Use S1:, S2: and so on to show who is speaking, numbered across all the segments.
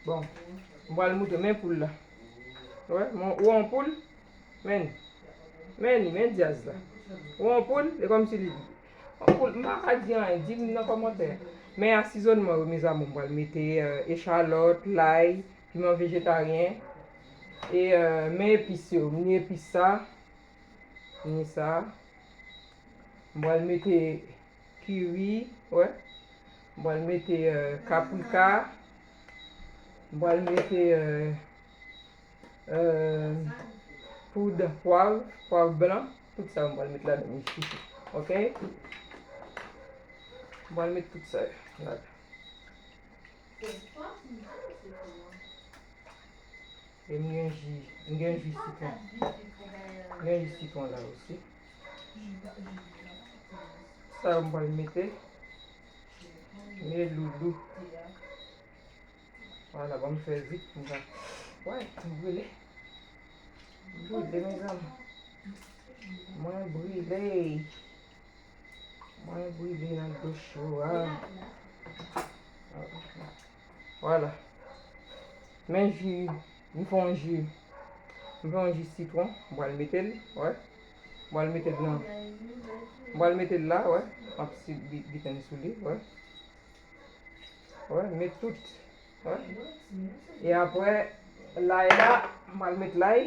S1: Bon, mwen al moute men poul la. Wè, mwen wè an poul. Men, men ni, men diaz la. Wè an poul, e kom si li di. An poul, mwen pa di an, di mwen nan komantè. Men asizon mwen wè mizamo mwen al moute echalot, lay, piman vejetaryen. E men epis yo, mwen ni epis sa. Ni sa. M pral mete kiri, wè. M pral mete euh, kaprika. M pral mete euh, euh, poud pwav, pwav blan. Tout sa m pral mete ladan li chouchou. Ok? M pral mete tout sa yo ladan. E m gen ji, m gen ji sitwon. M gen ji sitwon la osi. Sa yo m pral mete. Mye loulou. Wala, bon m fè zip. M va. Wè, m brile. M brile, mezanm. Mwen brile. Mwen brile nan dlo cho a. Wala. Men ji, mwen fè yon ji. Mwen fè yon ji sitron. Mwen al mete l, wè. Mwen al mete l nan. Mwen al mete l la, wè. Mwen ap si biten sou li, wè. Wè, met tout. Wè. E apre, lay la, mwen al mete lay.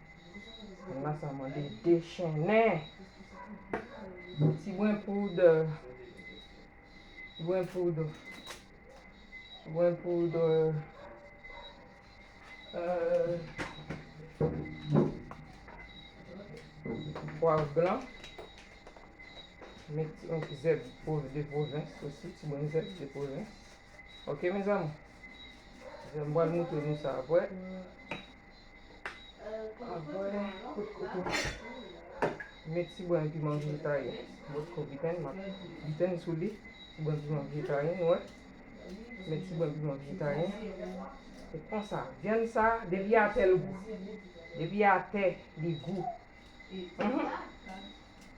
S1: Mwen sa mwen de dechennen. Ti gwen poud. Gwen poud. Gwen poud. Euh, poivre blanc. Met un zèb de provins aussi, ti mwen zèb de provins. Ok, mes amours? Zèb mwen moutre nou sa apre. Avwen kout kouto met ti bran piman vye taye bosco viten map viten sou li ti bran piman vye taye nou wè met ti bran piman vye taye se konsa vyann sa depi atè l gou depi atè li gou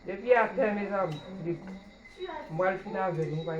S1: depi atè mezanmi li gou mwen al fin avè nou bay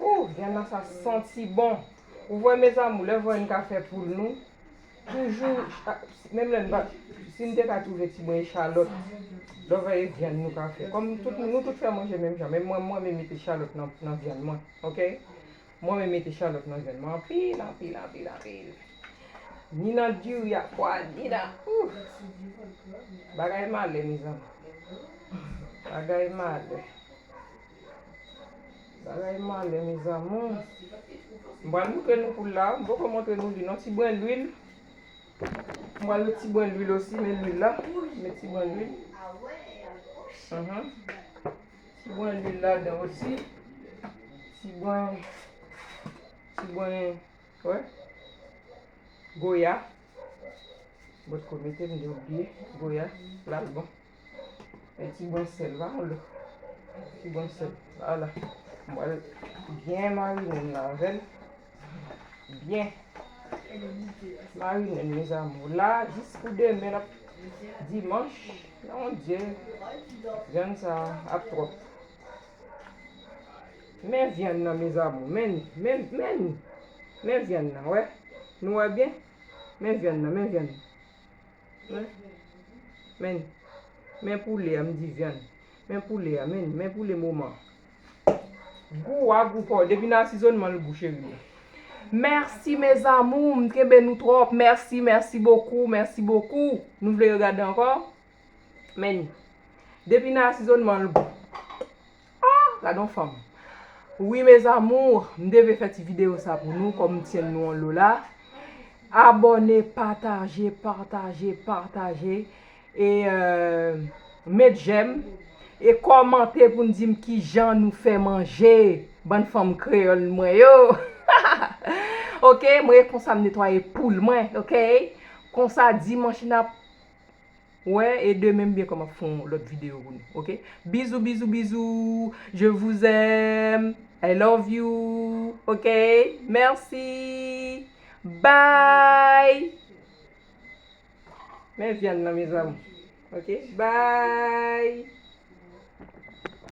S1: Ooh viann sa santi bon. Ou wè mes amour lè vwa yn ka fè poul nou toujou menm lè n pa si n te ka twouve ti brin echalòt lò vè e viann nou ka fè kòm tout nou tout fè manje menm jan menm mwen m renmen mete echalòt nan nan viann mwen ok m renmen mete echalòt nan viann mwen anpil anpil anpil anpil ni nan diri ak pwa ni nan ooh bagay malè mes amour bagay malè. Bagay male mes amours. M pral moutre nou poul la. M poko moutre nou li non. Ti brin lwil. M pral met ti brin lwil osi men lwil la. M met ti brin lwil. Ti brin lwil la dan osi. Ti brin. Ti brin. Wè. Goya. Bòt kou mete m de oublie. Goya. Lal bon. Yon ti bon sèl la ou lò. Ti bon sèl. Wala. Mwen byen marine m nan avèl. Byen. Marine m mes amour. La, jis pou demen lap dimanch. Yon dye. Vyann sa ap trop. Men vyann nan mes amour. Men ni. Men ni. Men ni. Men vyann nan. Wè. Nou wè byen. Men vyann nan. Men vyann nan. Men Men poule a m di vyann Men poule a men Men poule moman Gou wa gou paw depi nan asizonman l gou cherie. Merci mes amours m t renmen nou trop merci merci beaucoup merci beaucoup nou vle regade ankò men depi nan asizonman l gou. Ah gade yon fanm. Wi mes amours m devle fè ti video sa pou nou kòm m tyenn nou an lo la abòne pataje pataje pataje e met jèm e kòmante pou n di m kijan nou fè manje bann fanm kreyòl mwen yo ok mwen e konsa m netwaye poul mwen ok konsa dimanch nap Wè e demen m byen kòm ap fon lòt video pou nou ok bizou bizou bizou je vous aime I love you ok merci bye men vyann nan mezanmi ok bye.